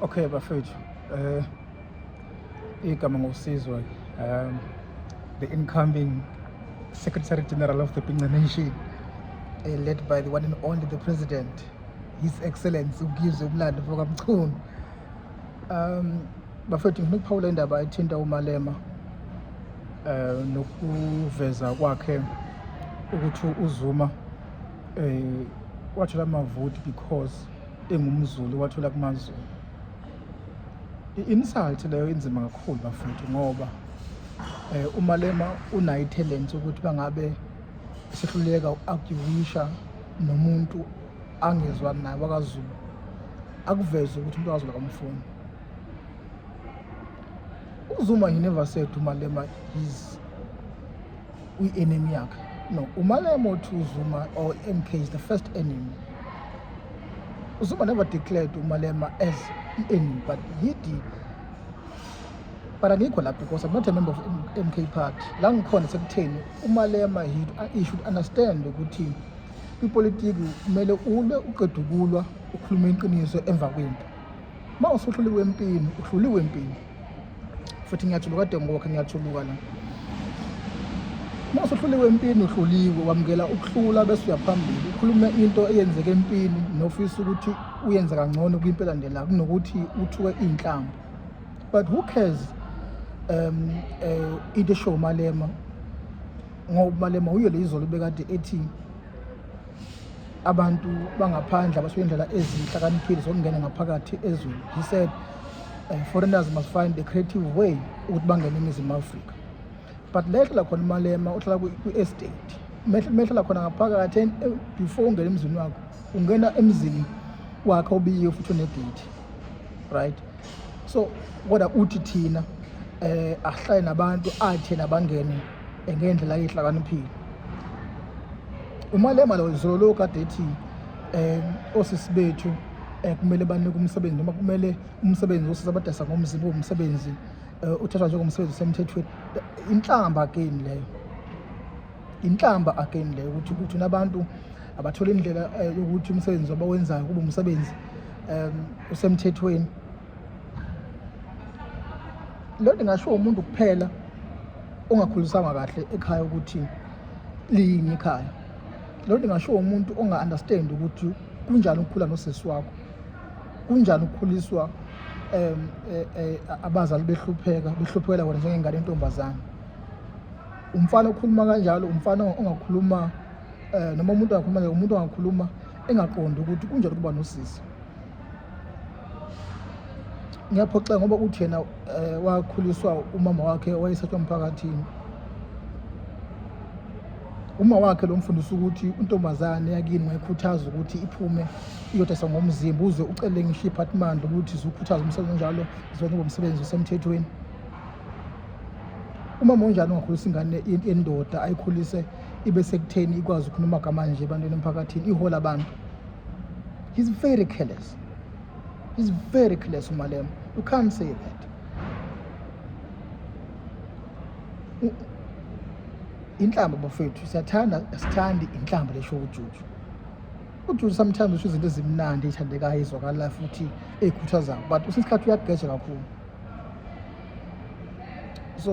Okay bafethu eh igama ngosizwe um the incoming Secretary General of the Pinga Nation eh, led by the one and only the President His Excellency uGizwe Mlando Mfokamchunu um bafethu ngifuna ukuphawula indaba ethinta uMalema eh nokuveza kwakhe ukuthi uZuma eh wathola amavoti because engumzulu wathola kumazulu i-insult leyo inzima kakhulu bafethu ngoba eh umalema unayo talent ukuthi bangabe sihluleka ukuarguisha nomuntu angezwa naye wakazulu akuveze ukuthi umuntu wakazulu akamfuni uzuma he never said umalema is uyi-enemy yakhe no umalemo to zuma or mk is the first enemy uzuma never declared umalema as i-enemy but he did but angikho lapho because i'm not a member of mk party la ngikhona sekutheni umalema he, he should understand ukuthi kwipolitiki kumele ulwe uqeda ukulwa ukhulume iqiniso emva kwempi uma usuhluliwe empini uhluliwe empini futhi ngiyajuluka kade ngokhe ngiyajuluka la uma usuhluliwe empini uhluliwe wamukela ukuhlula bese uyaphambili ukhulume into eyenzeke empini nofisa ukuthi uyenze kangcono kwimpela ndela kunokuthi uthuke iy'nhlamba but who cares um uh, into eshow umalema ngoba umalema uyo le izolo bekade ethi abantu bangaphandle abasuke indlela ezihlakaniphile zokungena ngaphakathi ezweni he said uh, foreigners must find a creative way ukuthi bangene eningizimu afrika but lehlala khona umalema uhlala kwi-estate mehlala khona ngaphakathi eh, before ungena emzini wakho ungena emzini wakhe obiye futhi unedate right so kodwa uthi thina um ahlale nabantu athena bangene ngendlela eyihlakaniphile umalema lo izolo lo kade ethi um osisi bethu um kumele banike umsebenzi noma kumele umsebenzi osisi abadasa ngomzimba womsebenzi um eh, uthathwa njengomsebenzi osemthethweni inhlamba again leyo inhlamba again leyo ukuthi ukuthi unabantu abathole indlela eh, yokuthi umsebenzi abawenzayo kube umsebenzi um usemthethweni loo nto ingashiwo umuntu kuphela ongakhulisanga kahle ekhaya ukuthi liyini ikhaya loo nto ingashiwo umuntu onga-understand ukuthi kunjani ukukhula nosisi wakho kunjani ukukhuliswa um abazali behlupheka behluphekela wena njengengane yentombazane umfana okhuluma kanjalo umfana ongakhuluma um noma umuntu angakhuluma umuntu angakhuluma engaqondi ukuthi kunjani ukuba nosisi ngiyaphoxeka ngoba uthi yena um wakhuliswa umama wakhe wayesatshwa emphakathini uma wakhe lo mfundisi ukuthi untombazane yakini wayikhuthaza ukuthi iphume iyodayisa ngomzimba uze ucele ngisho iphathimandla ukuthi ziwukhuthaza umsebenzi onjalo ziwenze ngomsebenzi osemthethweni umama onjani ongakhulisa ingane yendoda ayikhulise ibe sekutheni ikwazi ukhuluma amagama nje ebantwini emphakathini ihola abantu He's very careless. He's very careless, Umalem. You can't say that. inhlamba bafethu siyathanda sithandi inhlamba lesho ujuju ujuju sometimes usho izinto ezimnandi eyithandekayo ezwakalayo futhi eyikhuthazayo but usesikhathi uyageja kakhulu so